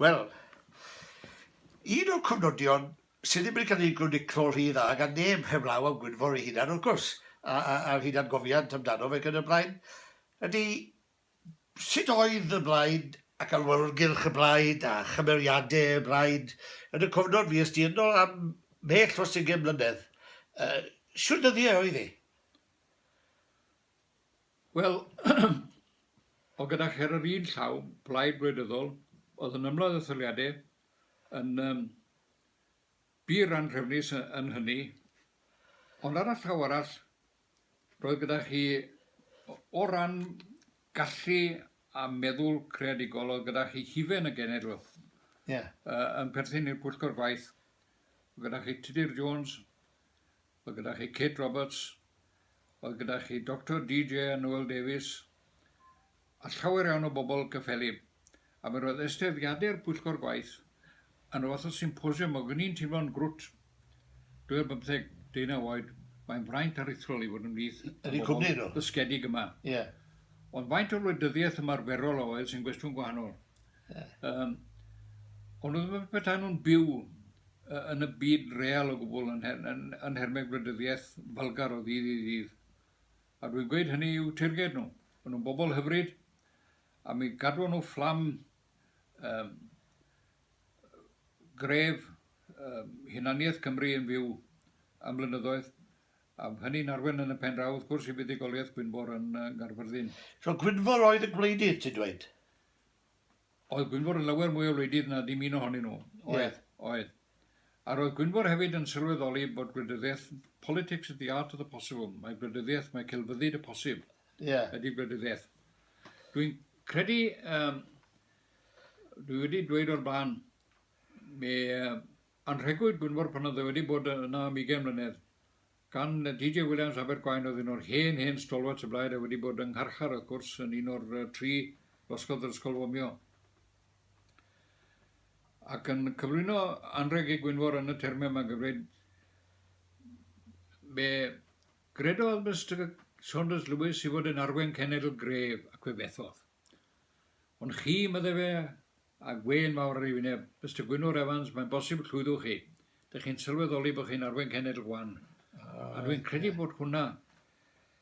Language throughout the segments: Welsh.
Wel, un o'r cofnodion sydd ddim wedi cael ei groniclo rhy dda gan neb heblaw am Gwynfor ei hunan, wrth gwrs, a, a, a'r hunangofiant amdano fe ac yn y blaen, ydy sut oedd y blaid ac awyrgylch y blaid a chymeriadau y blaid yn y cofnod fues di ynddo am mhell dros ugain mlynedd. Yy, shwt ddyddiau oedd hi? Wel, o gyda chi ar yr un llaw, plaid gwleidyddol, oedd yn ymladd etholiadau, yn um, bur anrhefnus yn hynny, ond ar y llaw arall, roedd gyda chi o ran gallu a meddwl creadigol oedd gyda chi hufen y genedl yeah. uh, yn perthyn i'r pwyllgor gwaith gyda chi Tudur Jones Mae gyda chi Kate Roberts, mae gyda chi Doctor DJ a Noel Davies, a llawer iawn o bobl cyffelyb. A mi roedd ysteddiadau'r pwyllgor gwaith yn y fath o symposiwm ac o'n i'n teimlo'n grwt. Dwi ar bymtheg, deunaw oed, mae'n fraint aruthrol i fod ymhlith y bobl dysgedig yma. Ond faint o wleidyddiaeth ymarferol a oedd sy'n gwestiwn gwahanol. Yym, ond oedd yn petai nhw'n byw yn y byd real o gwbl yn, yn, yn, yn nhermau gwleidyddiaeth falgar o ddydd i ddydd. A dwi'n gweud hynny i'w teirged nhw. Maen nhw'n bobl hyfryd, a mi gadw nhw fflam um, gref um, hunaniaeth Cymru yn fyw am blynyddoedd, a hynny'n arwen yn y pen draw, wrth gwrs, i fuddugoliaeth Gwynfor yn uh, Garfyrddin. So Gwynfor oedd y gwleidydd, ti'n dweud? oedd Gwynfor yn lawer mwy o wleidydd na dim un ohonyn nhw. Oedd, yeah. oedd. A roedd Gwynfor hefyd yn sylweddoli bod gwleidyddiaeth, politics is the art of the possible, mae gwleidyddiaeth, mae celfyddyd y posib, yeah. ydy gwleidyddiaeth. Dwi'n credu, um, dwi wedi dweud o'r blaen, mi uh, anrhegwyd Gwynfor pan oedd e wedi bod yna am 20 mlynedd, Gan DJ Williams, Abergwaun oedd un o'r hen, hen stalwarts y blaid a wedi bod yng ngharchar, wrth gwrs, yn un o'r tri losgodd yr Ysgol Fomio. Ac yn cyflwyno anrheg ei Gwynfor yn y termau yma, gan ddweud, Fe gredodd Mister Saunders Lewis ei fod yn arwain cenedl gref, ac fe fethodd. Ond chi, medde fe, a gwên fawr ar ei wyneb, Mister Gwynfor Evans, mae'n bosib llwyddwch chi. Dych chi'n sylweddoli bod chi'n arwen cenedl gwan. A dwi'n credu bod hwnna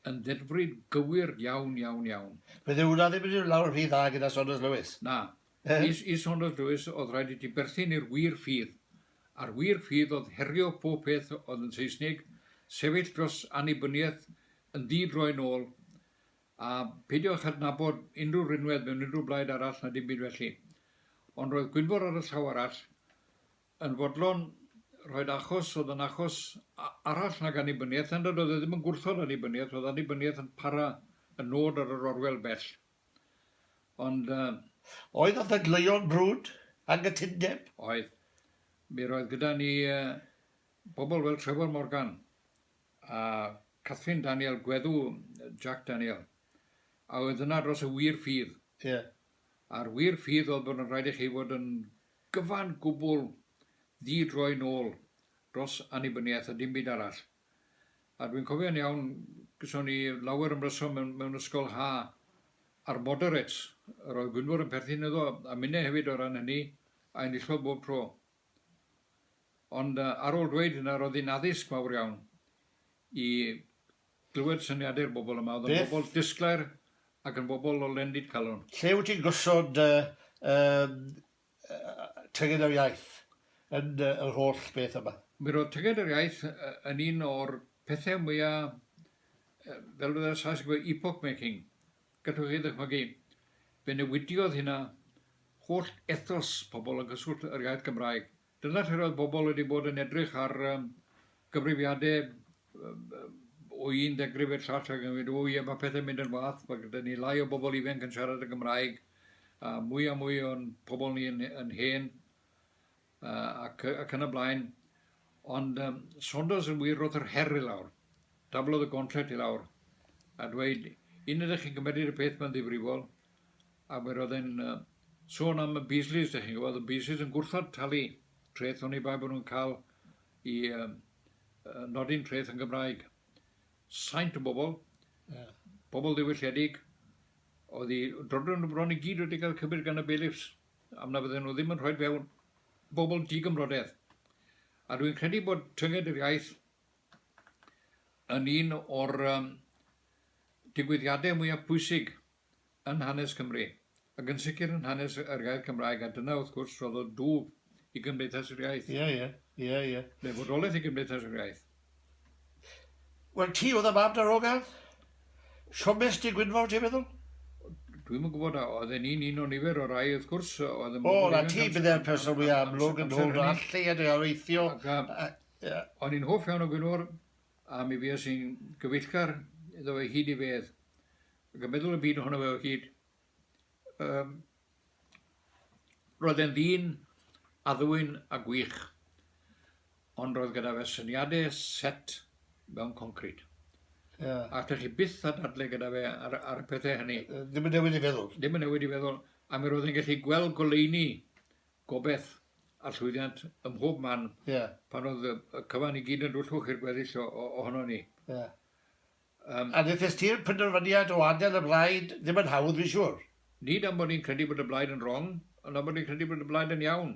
yn ddedfryd gywir iawn, iawn, iawn. Bydd hwnna ddim yn mynd lawr rhy dda gyda Saunders Lewis. Na. I Saunders Lewis oedd rhaid i ti berthyn i'r wir ffydd, a'r wir ffydd oedd herio pob peth oedd yn Seisnig, sefyll dros annibyniaeth yn ddi-droi'n ôl, A pheidiwch â adnabod unrhyw rinwedd mewn unrhyw blaid arall na dim byd felly. Ond roedd Gwynfor ar y llaw arall yn fodlon rhoid achos oedd yn achos arall nag annibyniaeth, er nad oedd e ddim yn gwrthod annibyniaeth, oedd annibyniaeth yn para y nod ar yr orwel bell. Ond... Uh, oedd y ddadleuon brwd, anghytundeb? Oedd. Mi roedd gyda ni uh, bobl fel Trevor Morgan, a Catherine Daniel, gweddw Jac Daniel, a oedd yna dros y wir ffydd. Ie. A'r wir ffydd oedd bod yn rhaid i chi fod yn gyfan gwbl ddi-droi nôl dros annibyniaeth a dim byd arall. A dwi'n cofio'n iawn, gyson ni lawer ymryson mewn, mewn ysgol ha a'r moderates, yr oedd Gwynfor yn perthyn iddo, a minne hefyd o ran hynny, a enillodd bob tro. Ond ar ôl dweud hynna, roedd hi'n addysg mawr iawn i glywed syniadau'r bobl yma. Oedd yn bobl disglair ac yn bobl o lendid calon. Lle wyt ti'n gosod dy Tyged yr Iaith yn yr holl beth yma? Mi roedd Tyged yr Iaith yn un o'r pethau mwya', fel y Saes yn gweud, epoch-making. Gallwch chi ddychmygu, fe newidiodd hynna holl ethos pobl yn cyswllt yr iaith Gymraeg. Dyna lle'r oedd pobl wedi bod yn edrych ar gyfrifiade o un ddegrif i'r llall ac yn gweud, o ie, mae pethau'n mynd yn wath, mae gyda ni lai o bobl ifanc yn siarad y Gymraeg, a mwy a mwy o'n pobl ni yn, yn hen. ac, ac yn y blaen. Ond um, Saunders yn wir roedd yr her i lawr. Dablodd y gontret i lawr. A dweud, un ydych chi'n cymryd y peth mae'n ddifrifol. A fe roedd e'n uh, sôn am y Beasleys, ydych chi'n gwybod, y Beasleys yn gwrthod talu treth o'n i bai bod nhw'n cael i um, nodi'n treth yn Gymraeg. Saint o bobl, yeah. bobl ddiwylledig, oedd i drodron nhw bron i gyd wedi cael cybyd gan y bailiffs. am na fydden nhw ddim yn rhoi fewn bobl di-gymrodedd. A dwi'n credu bod tynged yr iaith yn un o'r um, digwyddiadau mwyaf pwysig yn hanes Cymru, ac yn sicr yn hanes yr iaith Cymraeg, a dyna wrth gwrs roedd o dŵf i Gymdeithas yr Iaith. Ie, ie, ie, ie. Fe fodolaeth i Gymdeithas yr Iaith. Wel ti oedd y mam darogan? Siomes Dŷ Gwynfor ti'n meddwl? Dwi'm yn gwybod, oedd e'n un un o nifer o rai wrth gwrs oedd yn... O, na ti bydde'r person fwy amlwg yn ôl na allu yn ei oreithio. O'n i'n hoff iawn o Gwynfor a mi fues i'n gyfeillgar iddo fe hyd i fedd. Ac yn meddwl y byd ohono fe o hyd. Yym. Roedd e'n ddyn addfwyn a gwych, ond roedd gyda fe syniadau set mewn concrid. Yeah. A allech chi byth a dadle gyda fe ar, ar y pethau hynny. Ddim yn newid i feddwl. Ddim yn newid i feddwl, a mi roedd e'n gallu gweld goleini gobeth a llwyddiant ym mhob man yeah. pan oedd y cyfan i gyd yn dwllwch i'r gweddill ohono ni. Yeah. Yym, a wnes ti'r penderfyniad o adael y blaid ddim yn hawdd fi'n siŵr. Nid am bod ni'n credu bod y blaid yn wrong, ond am bod ni'n credu bod y blaid yn iawn.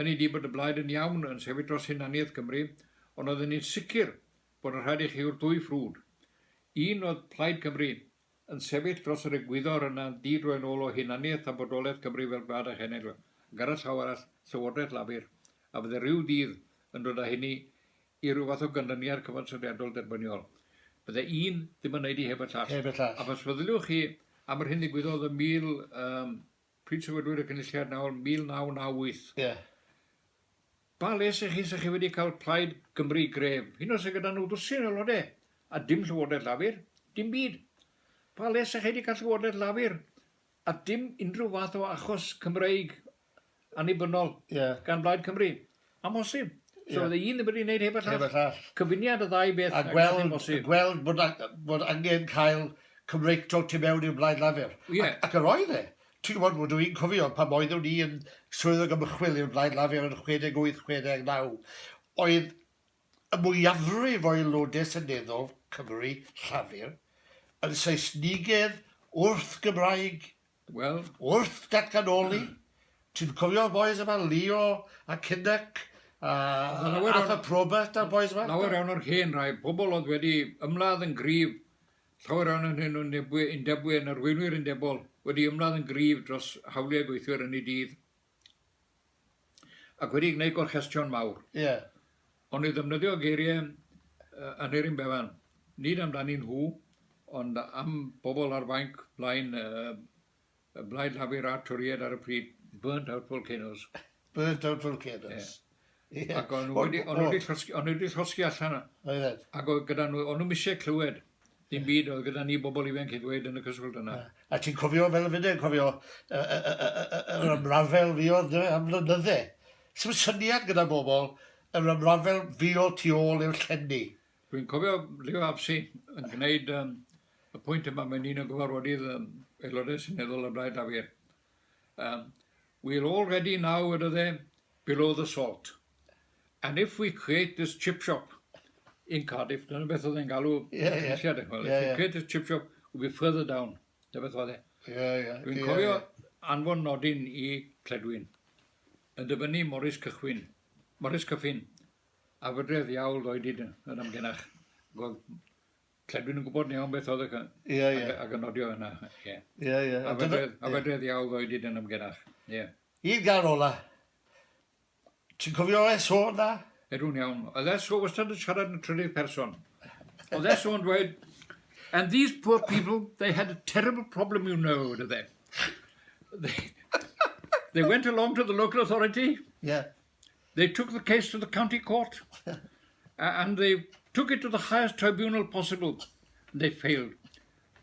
Hynny ydi bod y blaid yn iawn yn sefyll dros hunaniaeth Cymru, ond oedden ni'n sicr bod yn rhaid i chi yw'r dwy ffrwd. Un oedd Plaid Cymru yn sefyll dros yr egwyddor yna'n di-droi'n ôl o hunaniaeth a bodolaeth Cymru fel gwlad a chenedl, ac ar y llaw arall, Llywodraeth Lafur, a fydde rhyw ddydd yn dod â hynny i ryw fath o ganlyniad cyfansoddiadol derbyniol. Bydde un ddim yn wneud i heb y llall. Heb y llall. Ac os feddyliwch chi am yr hyn ddigwyddodd ym mil... Yym, pryd sefydlwyd y Cynulliad nawr, 1998. Ie. Pa les ych chi 'sa chi wedi cael Plaid Cymru gref, hyd yn oed sydd gyda nhw ddwsin o aelodau, a dim Llywodraeth Lafur? Dim byd. Pa les 'sa chi wedi cael Llywodraeth Lafur a dim unrhyw fath o achos Cymreig annibynnol gan Blaid Cymru. Amhosib. So oedd y un ddim wedi gwneud heb y llall. Heb y llall. Cyfuniad o ddau beth a gweld, amhosib. A gweld bod, bod angen cael Cymreictod tu mewn i'r Blaid Lafur. Yeah. Ac, ac yr oedd e. Ti'n gwybod, rydw i'n cofio pan oeddwn ni yn swyddog ymchwil i'r Blaid Lafur yn 68, 69, oedd y mwyafrif o Aelodau Seneddol Cymru Llafur yn Saesnigedd wrth Gymraeg, wel, wrth datganoli, ti'n cofio'r bois yma, Leo a Kinnock a Arthur Probert a'r bois yma? Lawer iawn o'r hen rai, pobl oedd wedi ymladd yn gryf, llawer iawn yn hyn o'n undebwyr, yn arweinwyr undebol, wedi ymladd yn gryf dros hawliau gweithwyr yn eu dydd. Ac wedi gwneud gorchestion mawr. Ie. Ond i ddefnyddio geiriau Aneurin Bevan, nid amdanyn nhw, ond am bobl ar fainc blaen y Blaid Lafur a'r Torïaid ar y pryd, burnt out volcanoes. Burnt out volcanoes. Ie. Yeah. Ac o'n nhw wedi llosgi, o'n nhw wedi llosgi allan. Oedden. Ac oedd gyda nhw, o'n nhw eisiau clywed. Dim byd oedd gyda ni bobl ifanc i ddweud yn y cyswllt yna. A ti'n cofio fel y fydde, cofio yr ymrafel fi oedd am flynydde. Sut syniad gyda bobl yr ymrafel fi oedd tu ôl i'r llenni. Dwi'n cofio Leo Absi yn gwneud um, y pwynt yma, mae'n un o gyfarfodydd um, aelodau syneddol y Blaid Lafur. Um, we're all ready now, ydy dde, below the salt and if we create this chip shop in Cardiff, dyna beth oedd e'n galw yeah, yeah. yeah, if we yeah. create this chip shop, we'll be further down. Dyna beth oedd e. Yeah, yeah. Dwi'n yeah, cofio yeah. anfon nodyn i Cledwyn yn dyfynnu Morris Cychwyn, Morris Cyffin, a fydredd iawl o'i dyd yn amgenach. Gweld Lle dwi'n yn gwybod yn iawn beth oedd y... Ie, ie. Ac yn nodio yna, ie. Ie, ie. A fedredd iawn ddoi dyn yn ymgenach, ie. I'r gan ola. Ti'n cofio SO na? Edw'n iawn. Oedd SO wastad yn siarad yn trydydd person. Oedd SO'n dweud, and these poor people, they had a terrible problem, you know, dydde. They, they went along to the local authority. Yeah. they took the case to the county court and they took it to the highest tribunal possible. And they failed.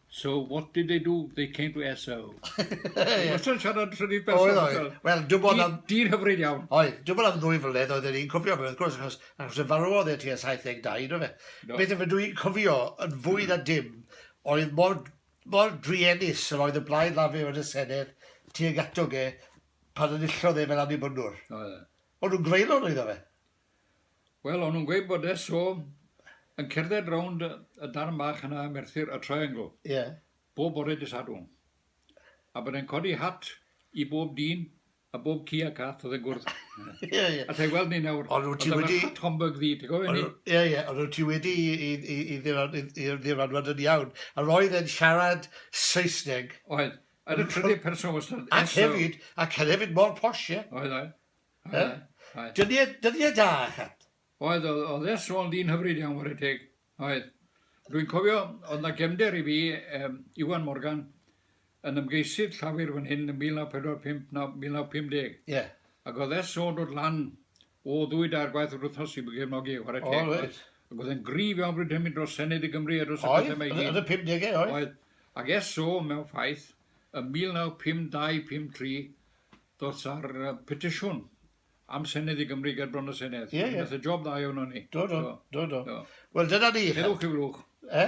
So what did they do? They came to SO. Wastad siarad rhywbeth person. Oedd, oedd. Wel, dwi'n bod am... Dyn hyfryd iawn. Oedd, dwi'n bod am ddwy flynedd oedd yn cofio fe, wrth gwrs, achos, achos y farwodd e ti a 72, do fe? No. Beth yma dwi'n cofio yn fwy na dim oedd mor, mor druenus yr oedd y blaid lafur yn y Senedd tuag atog e pan enillodd e fel Annibynwr. O, ie. O'n nhw'n greulon oedd o fe? Wel, o'n nhw'n gweud bod e so yn cerdded rownd y darn bach yna, Merthyr, y triangle, yeah. bob bore dy sadwn. A bod e'n codi hat i bob dyn a bob ci a cath oedd yn gwrdd. Ie, ie. A ti'n gweld ni nawr, oedd e'n wedi... hat Homburg ddi, ti'n gofio ni? Ie, ie, ond oedd ti wedi i ddiranwad yn iawn. A roedd e'n siarad Saesneg. Oedd. Yn y trydydd person wastad. Ac hefyd, ac hefyd mor posh, ie? Oedd, oedd. oedd. Dyddiau, dyddiau da, chat. Oedd, oedd, oedd e sôn dyn hyfryd iawn o'r teg. Oedd. Rwy'n cofio, oedd na gefnder i fi, um, Iwan Morgan, yn ymgeisydd llafur fan hyn yn 1945 na 1950. Ie. Yeah. Ac oedd e sôn dod lan O ddwy dair gwaith yr wythnos i gefnogi chwarae teg. O reit. Ac oedd e'n gryf iawn bryd hynny dros Senedd i Gymru a dros y pethau mae i gyd. Oedd, yn y pumdegau oedd. Oedd. Ac eso mewn ffaith, yn 1952, 53, ddoth ar petisiwn am Senedd i Gymru ger bron y Senedd. Ie ie. Nath e job dda iawn o ni. Do do. Do do. Do. Wel dyna ni. Heddwch i flwch. E?